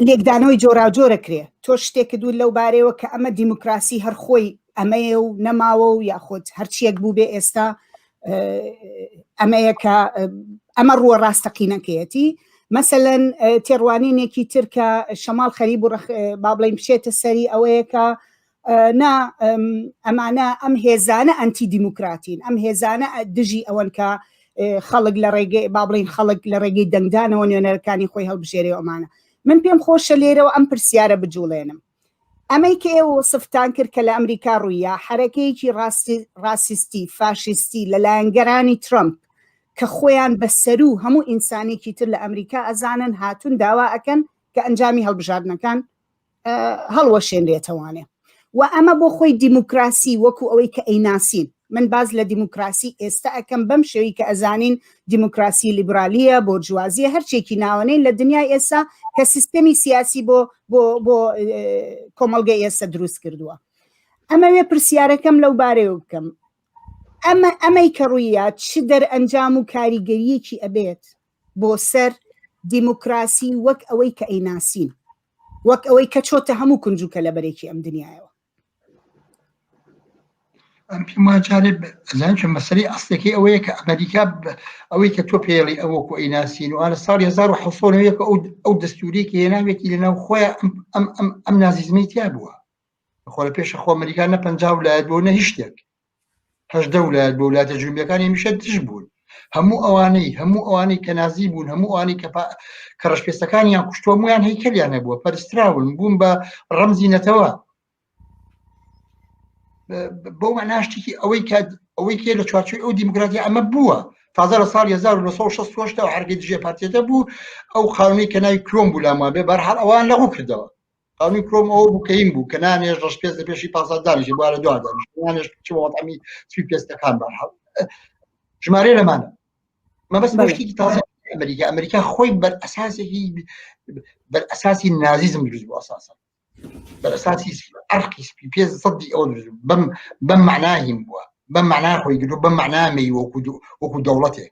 لێکدانەوەی جۆراوجۆرە کرێ تۆ شتێکت و لەو بارەیەوە کە ئەمە دیموکراسی هەرخۆی ئەمەیە و نەماوە و یاخود هەرچیەک بوو بێ ئێستا ئەمەیە کە ئەمە ڕووە ڕاستەقینەکەیەتی مەسەەن تێڕوانینێکی ترکە شەماڵ خەریب و با بڵین بچێتە سەری ئەوەیە کە نا ئەمانە ئەم هێزانە ئەنتی دیموکراتین ئەم هێزانە دژی ئەوەن کە خەڵک لە ڕێگەی با بڵین خەڵک لە ڕێگەی دەنگدانەوە نوێنەرەکانی خۆی هەڵبژێری ئەمانە من پێم خۆشە لێرەوە ئەم پرسیارە بجوڵێنم ئەمەی کە ئێوە سفتان کرد کە لە ئەمریکا ڕوویە حرەکەیەکی ڕاسیستی فاشیستی لە لایەنگەرانی ترمپ کە خۆیان بە سەرو هەموو ئینسانێکی تر لە ئەمریکا ئەزانن هاتون داوا ئەکەن کە ئەنجامی هەڵبژاردنەکان هەڵوەشێنرێتەوانێ و ئەمە بۆ خۆی دیموکراسی وەکو ئەوەی کە ئەیناسین من باز لە دیموکراسی ئێستا ئەەکەم بەم شێوی کە ئەزانین دیموکراسی لیبرالیە بۆ جوازیە هەرچێکی ناوەنەی لە دنیای ئێستا کە سیستەمی سیاسی بۆ بۆ بۆ کۆمەلگە ئێستا دروست کردووە ئەمەوێ پرسیارەکەم لەو بارەیە بکەم ئەمە ئەمەی کە ڕوویە چ دەرئەنجام و کاریگەریەکی ئەبێت بۆ سەر دیموکراسی وەک ئەوەی کە ئەیناسین وەک ئەوەی کە چۆتە هەموو کونج و کەلەبەرێکی ئەم دنیایەوە ئەم پێم وا جارێ ئەزان چ مەسەری ئەستێکی ئەوەیە کە ئەمریکا ب- ئەوەی کە تۆ پێڵی ئەوە کو ئەیناسین و ئالە ساڵی 1970 ئەو ئەو دەستوورێکی هێناوێتی لەناو خۆیان ئەم ئەم ئەم ئەم نازیزمی تیا بووە خۆ لە پێش خۆ ئەمریکا نە پەنجا ولایەت بۆ نە هیچ شتێک هەشدە ولایەت بۆ ولاتە جنوبیەکان همیشە دژ بوون هەموو ئەوانەی هەموو ئەوانەی کە نازی بوون هەموو ئەوانەی کە کە ڕشپێستەکانیان کوشتووە مویان هەیکەلیان هەبووە پەرستراون بوون بە ڕەمزی نەتەوە بۆ مەناشتێکی ئەوەی کە ئەوەی کێ لە چوارچوی ئەو دیموکراتی ئەمە بووە تازە لە ساڵ 1960 هەرگە دژێ پارتێتە بوو ئەو خاونەی کە ناوی کرۆم بوو لامابێ بەرحال ئەوان لەغو کردەوە خانووی پرۆم ئەوە بوو کە هیم بوو کە نانێژ ڕەش پێست لە پێشی پاسا دانیشی بووە لە دوا دانیش نانێژ چ وەڵامی سوی پێستەکان بە حەڵ ژمارە لەمانە مەبەست بەڵێ. مەشتێکی تازە ئەمریکا ئەمریکا خۆی بەر ئەساسێکی بەر ئەساسی نازیزم دروست بوو ئەساسا بەر ئەساسی ئەرقی سپی پێ سەدی ئەو دروست بوو. بەم بەم معناهیم بووە بەم معنا خۆی گرو بەم معنا مەی وەکو دو- وەکو دەوڵەتێک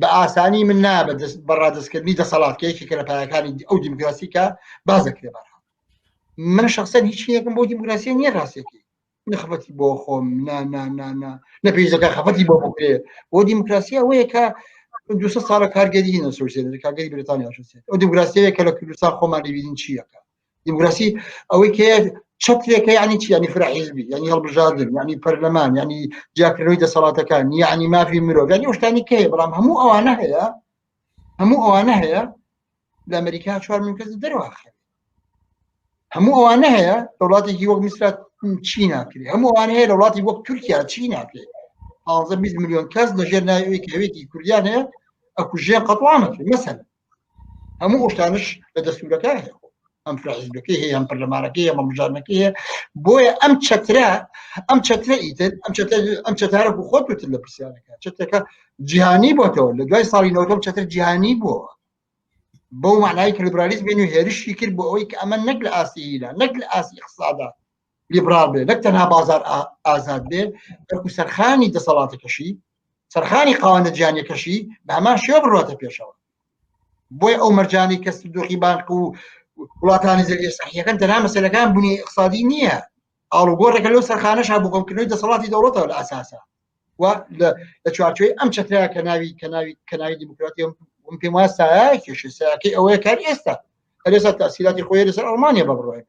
بە ئاسانی من نایە بە دەست بە ڕادستکردنی دەسەڵات کە یەکێکە لە پایەکانی ئەو دیموکراسی کە باز دەکرێت بەرها من شخصەن هیچ یەکم بۆ دیموکراسی نییە ڕاستێکی نخبەتی بۆ خۆم نا نا نا نا نە پێیزەکە خەفەتی بۆ بکرێ بۆ دیموکراسی ئەوەیە کە دو ساڵە کارگەری نەسوسێنەر کارگەری بریتانیا شوسێت ئەو دیموکراسیەیە کە لە کوردستان خۆمان لێبیین چیەکە دیموکراسی ئەوەی کە چەترێکە ینی چی ینی فراحیزبی ینی هەڵبژاردن ینی پەرلەمان ینی جیاکردنەوەی دەسەڵاتەکان یعنی مافی مرۆڤ ینی شتانی کە هەیە بەڵام هەموو ئەوانە هەیە هەموو ئەوانە هەیە لە ئەمریکا چوار من کەس دەرواخێ هەموو ئەوانە هەیە لە وڵاتێکی وەک میسرا چی ناکرێت هەموو ئەوان هەیە لە وڵاتی وەک تورکیا چی ناکرێت 20 میلیۆن کەس لەژێر ناوێکی هەوێتی کوردیان هەیە ئەکوژێن قەتوانەکرێت مەسەن هەموو ئەوشتانش لە دەستورەکە ئەم فحزبەکەی هەیە ئەم پەرلەمانەکەی ئەمە مژانەکە هەیە بۆیە ئەم چەترە ئەم چەترە ئیتر ئەم ئەم چەتارە بۆ خۆت وتر لە پرسیارەکە چەتەکە جیهانی بۆتەوە لە دوای ساڵی نەوەم چەتر جیهانی بووە بەو معنای کە لیبرالیزم بێن و هێرشی کرد بۆ ئەوەی کە ئەمە نەک لە ئاستی هیلا نەک لە ئاستی اقتصادا لیبرال بێ نەک تەنها بازار ئازاد بێ بەکو سەرخانی دەسەڵاتەکەشی سەرخانی قاوانە جیانەکەشی بە هەمان شێ بڕاتە پێشەوە بۆی ئەو مەرجانی کەس دۆخی بانق و وڵاتانی زەویە سەحیەکەن تەنا مەسلەکان بوونی اقتصادی نییە ئاڵوگۆڕێکە لەو سەرخانە شا بکەمکردنەوەی دەسەڵاتی دەوڵەتەوە لە ئاساسە و لە چوارچوی ئەم چترا کە ناوی کە ناوی کە ناوی دیموکراتی پێم واسایە کێشەکەی ئەوەیە کار ئێستا هەرێسا تاسیراتی خۆی لەسەر ئەڵمانیا بە بڕۆێت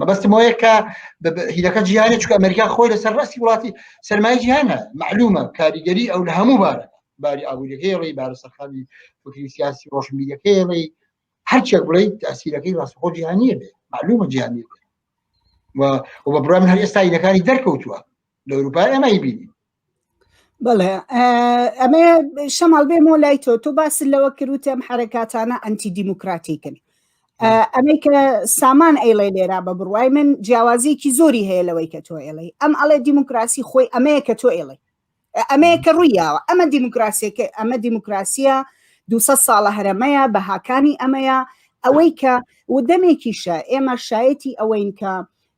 مەبەستم ئەوەیە کە هیلەکە جیهانی چکە ئەمریکا خۆی لەسەر ڕاستی وڵاتی سەرمای جیهانە معلومە کاریگەری ئەو لە هەموو بارە باری ئابووریەکەی ڕێی بارە سەرخانی فکری سیاسی ڕۆشنبیرەکەی ڕێی هەرچێک بڵیت تاسیرەکەی ڕاستخۆ جیهانیە بێ معلومە جیهانی بێ و بە برام هەر ئێستا هیلەکانی دەرکەوتووە لە ئەوروپای ئەمەی بینی بڵێ ئەمە شەماڵ بێمۆ لای تۆ تۆ باس لەوە کروتم حرەکاتانە ئەنتی دیموکراتیکن ئەمەی کە سامان ئەیڵێ لێرا بە بڕوای من جیاوازیکی زۆری هەیە لەوەی کە تۆ ئێڵی ئەم ئەڵێ دیموکراسی خۆی ئەمەیە کە تۆ ئێڵی ئەمەیە کە ڕوویاوە ئەمە دیموکراسیەکە ئەمە دیموکراسیە دو ساڵە هەرەمەیە بەهاکانی ئەمەیە ئەوەی کە ودەمێکیشە ئێمە شایەتی ئەوەین کە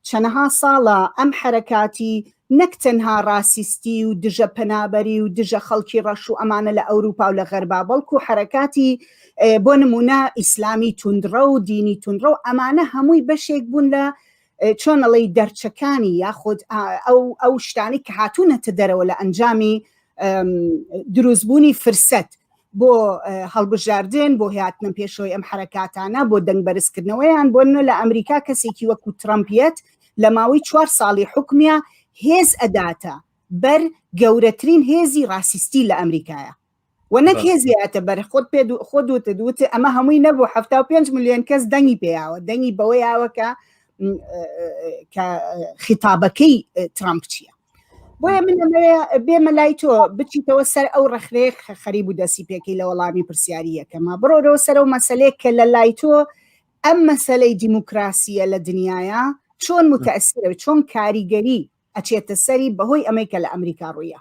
چەنەها ساڵە ئەم حەرەکاتی نەک تەنها راسیستی و دژە پەنابەری و دژە خەڵکی رەش و ئەمانە لە ئەوروپا و لە غەربا بەڵکو حەرەکاتی بۆ نمونە ئیسلامی توندڕەو دینی توندڕەو ئەمانە هەمووی بەشێک بوون لە چۆن ئەڵێی دەرچەکانی یاخود ئەو ئەو شتانی کە هاتوونەتە دەرەوە لە ئەنجامی دروستبوونی فرسەت بۆ هەڵبژاردن بۆ هاتنە پێشەوەی ئەم حرەکاتانە بۆ دەنگ بەرزکردنەوەیان بۆ نە لە ئەمریکا کەسێکی وەکو ترامپیت لە ماوەی چوار ساڵی حکومیە هێز ئەداتە بەر گەورەترین هێزی ڕاسیستی لە ئەمریکایە و نەک هێزیاتە بەر خۆت پێ خۆ دوتە دوتە ئەمە هەمووی نەبوو ه پێنج میلیۆن کەس دەنگی پێیاوە دەنگی بەوەیاوە کە کە خیتابەکەی ترامپ چییە بۆیە من بێمە لای تۆ بچیتەوە سەر ئەو ڕخنەیە خەریب و دەسی پێکی لە وەڵامی پرسیاریەکەمە بڕۆرەوە سەر و مەسلەیە کە لە لای تۆ ئەم مەسلەی دیموکراسیە لە دنیاە چۆن متەسیرە چۆن کاریگەری ئەچێتە سەری بەهۆی ئەمەی کە لە ئەمریکا ڕوویە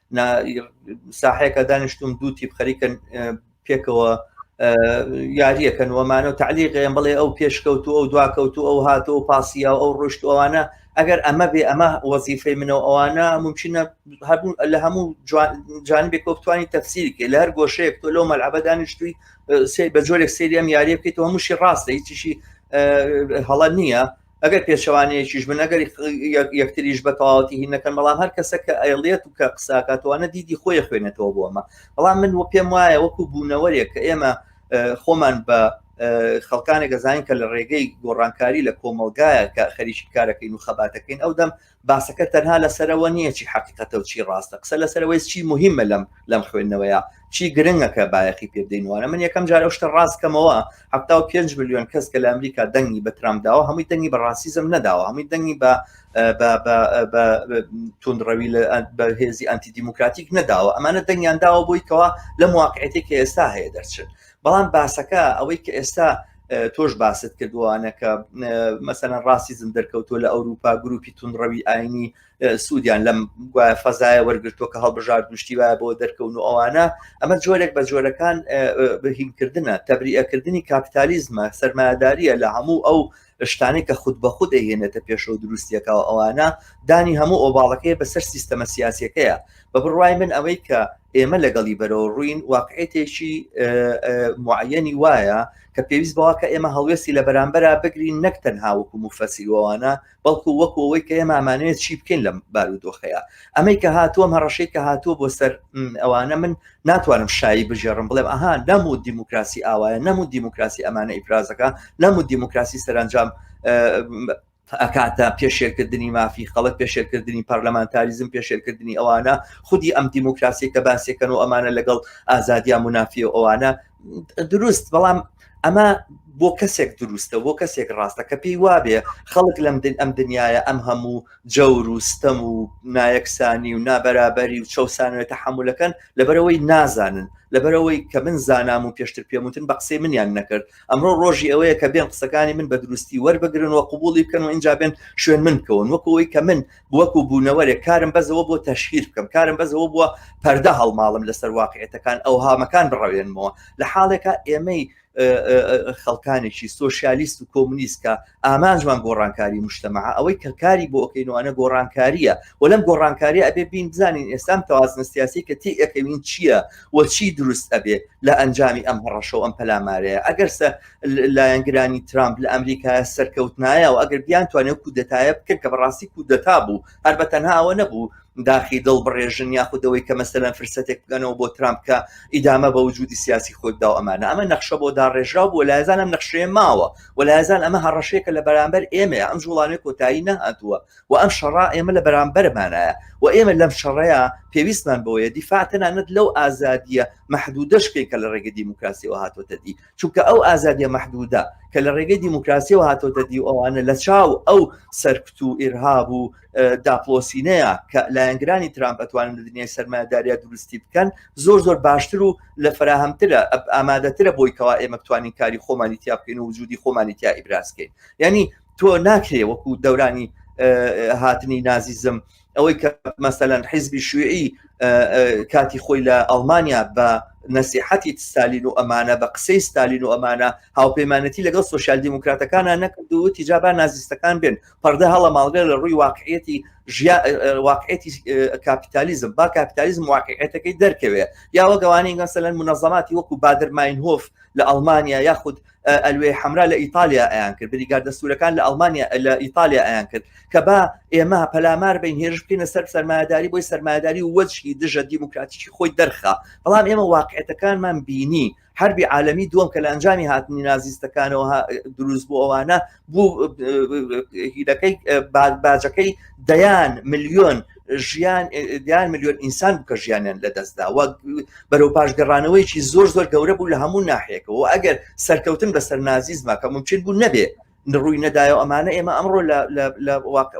ساحەیەکە دانیشتوم دوو تیپ خەریکن پێکەوە یاریەکەن وەمانە و تعلیقێن بڵێ ئەو پێشکەوت و ئەو دواکەوت و ئەو هاتۆ و پاسیا و ئەو ڕشت ئەوانە ئەگەر ئەمە بێ ئەمە وەزیفەی منەوە ئەوانە ممکنە هەبوو لە هەموو جانبێک وەکتوانی تەفسیرکە لە هەر گۆشەیەک تۆ لەو مەلعبە دانیشتوی سێ بە جۆرێک سریەم یاریەکەیت هەمووشی ڕاستە هیچیشی هەڵە نییە ئەگەر پێچەوانەیەکیش بن ئەگەری یەکتریش بە تەواوەتی هی نەکەن بەڵام هەر کەسە کە ئەیڵێت و کە قساکاتوانە دیدی خۆی خوێنێتەوە بۆمە بەڵام من وە پێم وایە وەکو بوونەوەرێک کە ئێمە خۆمان بە خەڵکانێک گەزانین کە لە ڕێگەی گۆڕانکاری لە کۆمەلگایە کە خەریکی کارەکەین و خەباتەکەین ئەو دەم باسەکە تەنها لەسەرەوە نییە چی حقیقەتە و چی ڕاستە قسە لەسەرەوەی چی مهمە لەم لەم خوێندنەوەیە چی گرنگەکە بایەخی پێدەین وانە من یەکەم جارە شتە ڕاستکەمەوە حتا و پێنج میلیۆن کەس کە لە ئەمریکا دەنگی بە ترامداوە هەمووی دەنگی بە ڕاسیزم نەداوە هەمووی دەنگی بە توندڕەوی لە بە هێزی ئەنتی دیموکراتیک نەداوە ئەمانە دەنگیان داوە بۆی کەوا لەم واقعێتی کە ئێستا هەیە دەرچن بەڵام باسەکە ئەوەی کە ئێستا تۆش باست کردوانە کە مەسەەن ڕاستیزم دەرکەوتۆ لە ئەوروپا گروپی تونڕەوی ئاینی سوودیان لەم گوایە فەزایە وەرگرتۆ کە هەڵبژار دوشتی وایە بۆ دەرکەون و ئەوانە ئەمە جۆرێک بە جۆرەکان بهینکردە تەبریەکردنی کاپیتالیزمە سەرمایهداریە لە هەموو ئەو شتانی کە خود بە خود دەهێنێتە پێشەوە دروستیەکە و ئەوانە دانی هەموو ئۆباڵەکەی بەسەر سیستەمە سیاسەکەیە بە بڕوای من ئەوەی کە ئێمە لەگەڵی بەرەوە ڕووین واقعێتێکی معەنی وایە کە پێویست بەوە کە ئێمە هەڵوێستی لە بەرامبەرا بگرین نەک تەنها وەکو مفەسیروانە بەڵکو وەکو ئەوەی کە ئێمامانەیە چی بکەین لەم بارودۆخەیە ئەمەی کە هاتووەم هەڕەشەی کە هاتووە بۆ سەر ئەوانە من ناتوانم شایی بژێڕم بڵێم ئەها نەم و دیموکراسی ئاوایە نەم و دیموکراسی ئەمانە ئیفرازەکە نەم و دیموکراسی سەرنجام ئەکاتە پێشێلکردنی مافی خەڵک پێشێلکردنی پەرلەمانتاریزم پێشێلکردنی ئەوانە خودی ئەم دیموکراسی کە باسێکەن و ئەمانە لەگەڵ ئازادیا منافی و ئەوانە دروست بەڵام ئەمە بۆ کەسێک دروستە بۆ کەسێک ڕاستە کە پێی وابێ خەڵک لەم دن ئەم دنیاە ئەم هەموو جەور و ستەم و نایەکسانی و نابەرابەری و چەسانەوەێتە حملەکەن لەبەرەوەی نازانن لەبەرەوەی کە من زانام و پێشتر پێموتن بە قسەی منیان نەکرد ئەمڕۆ ڕۆژی ئەوەیە کە بێن قسەکانی من بە دروستی وەربگرن و قوبوڵی بکەن و ئینجا بێن شوێن من بکەون وەکو ئەوی کە من وەکو بوونەوەرێک کارم بەزەوە بۆ تەشهیر بکەم کارم بەزەوە بووە پەردە هەڵماڵم لەسەر واقعێتەکان ئەو هامەکان بڕەوێنمەوە لە حاڵێکە ئێمەی خەڵکانێکی سۆسیالیست و کۆمونیست کە ئامانجمان گۆڕانکاری مشتەمەعە ئەوەی کە کاری بۆ ئەکەین وانە گۆڕانکاریە و لەم گۆڕانکاریە ئەبێ بین بزانین ئێستام تەوازنە سیاسی کە تی ئەکەوین چییە و چی دروست ئەبێ لە ئەنجامی ئەم هەڕەشە و ئەم پەلامارەیە ئەگەرسە لایەنگرانی ترامپ لە ئەمریکا سەرکەوتنایە و ئەگەر بیان توانێت کودەتایە بکرد کە بەڕاستی کودەتا بوو هەر بە تەنهاوە نەبوو داخی دڵ بڕێژن یاخودەوەی کە مەسەلەن فرسەتێک بگەنەوە بۆ ترامپ کە ئیدامە بە وجودی سیاسی خۆی دا و ئەمانە ئەمە نەخشە بۆ داڕێژرا بۆ لایزانم نەخشێ ماوە وەلای ئەزان ئەمە هەڕەشەیەکە لە بەرامبەر ئێمەیە ئەم جوڵانێ کۆتایی نەهاتووە و ئەم شەڕا ئێمە لە بەرامبەرمانایە و ئێمە لەم شەڕەیە پێویستمان بۆیە دیفاع تەنانەت لەو ئازادیە محدودەشکەی کە لە ڕێگە دیموکراسیەوە هاتۆتە دی چونکە ئەو ئازادیە محدودا کە لە ڕێگەی دیموکراسیەوە هاتۆتە دی ئەوانە لە چاو ئەو سەرکت و ئێرهاب و داپڵۆسینەیە کە لایەنگرانی ترامپ ئەتوانن لە دنیای سەرمایەداریا دروستی بکەن زۆر زۆر باشتر و لە فراهەمترە ئامادەترە بۆی کەوا ئێمە توانین کاری خۆمانی تیا بکەین و وجودی خۆمانی تیا ئیبراسکەین ینی تۆ ناکرێ وەکو دەورانی هاتنی نازیزم ئەوەی کە مەسەەن حیزبی شوێعی کاتی خۆی لە ئەڵمانیا بە نسیحەتی ستالین و ئەمانە بە قسەی ستالین و ئەمانە هاوپەیمانەتی لەگەڵ سوسیال دیموکراتەکانە نەکردو تیجابا نازیستەکان بێن پەردە هەڵە ماڵگە لە ڕووی واقعەتی ژیا واقعەتی کاپیتالیزم با کاپیتالیزم واقعەتەکەی دەرکەوێ یا وەگەوانی گەسەلەن منەزەماتی وەکو بادر ماینهۆف لە ئەلمانیا یاخود ئەلوێ حمرا لە ئیتالیا ئەیان کرد بریگار دەسوورەکان لە ئەلمانیا لە ئیتالیا ئەیان کرد کە با ئێمە پەلامار بین هێرش بکەینە سەر سەرمایداری بۆی سەرمایداری وەجهی دژە دیموکراتیکی خۆی دەرخا بەڵام ئێمە واقعەتەکانمان بینی حربی عالمی دووەم کە لە ئەنجامی هاتنی نازیستەکانەوە دروست بۆ ئەوانە بوو هیلەکەی باجەکەی دەیان ملیۆن ژیان دیان ملیۆن ئینسان بکە ژیانیان لە دەستدا وەک بەرەو پاشگەڕانەوەیکی زۆر زۆر گەورە بوو لە هەموو ناحێکەوە ئەگەر سەرکەوتن بەسەر نازیزما کە ممکن بوو نەبێ ڕووی نەدایەوە ئەمانە ئێمە ئەمڕۆ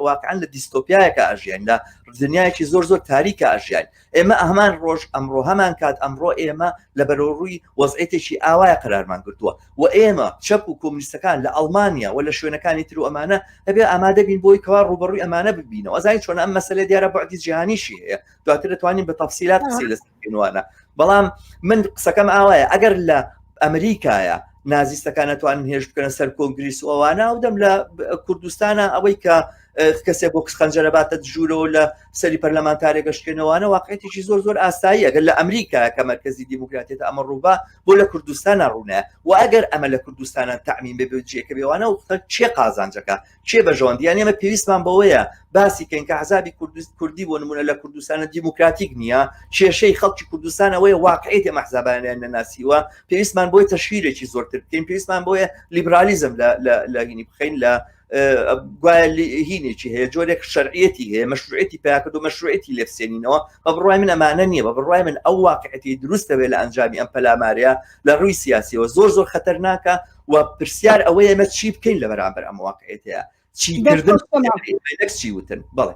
واقعان لە دیستۆپیایەکە ئاژیان لە دنیایەکی زۆر زۆر تاریکە ئاژیان ئێمە ئەمان ڕۆژ ئەمڕۆ هەمان کات ئەمڕۆ ئێمە لە بەرەوڕووی وەزعێتێکی ئاوایە قرارمان گرتووە و ئێمە چەپ و کۆمنیستەکان لە ئەڵمانیا و لە شوێنەکانی تر و ئەمانە هەبێ ئامادەبین بۆی کەوا ڕوبەڕووی ئەمانە ببینەوە زانین چۆن ئەم مەسلە دیارە بەعدی جیهانیشی هەیە دواتر دەتوانین بە تەفسیلات قسەی لەست نوانە بەڵام من قسەکەم ئاوایە ئەگەر لە ئەمریکایە نازیستەکان نتوانن هێش بکەن سەر کۆنگریس ئەوانە ئەو دەم لە کوردستانە ئەوەی کە کەسێک بۆ کچ خەنجەرە باتە ژوورەوە لە سەری پەرلەمانتارێک گەشتێنەوەوانە واقعێتێکی زۆر زۆر ئاسایی ئەگەر لە ئەمریکا کە مرکزی دیموکراتێت ئەمە ڕووبا بۆ لە کوردستانە ڕوونە و ئەگەر ئەمە لە کوردستانە تامین بێ بجێکە بێوانە و چێ قازانجەکە کێ بەژەوەند یان ئێمە پێویستمان بەوەیە باسی کەین کە عذابی کوردی بۆ نمونە لە کوردستانە دیموکراتیک نییە کێشەی خەڵکی کوردستانەوەی واقعی تێ مەحزابانیان نەناسیوە پێویستمان بۆی تەشویرێکی زۆرتر بکەین پێویستمان بۆیە لیبرالیزم لە هینی بخین لە گوایە هینێکی هەیە جۆرێک شەرعەتی هەیە مەشروعەتی پیاکرد و مەشروعەتی لێفسێنینەوە بە بڕای من ئەمانە نییە بە بڕای من ئەو واقعەتی دروستەوێت لە ئەنجامی ئەم پەلامارەیە لە ڕووی سیاسیەوە زۆر زۆر خەتەرناکە و پرسیار ئەوەیە ئێمە چی بکەین لە بەرامبەر ئەم واقعێتەیە چی کردن چی وتن بەڵێ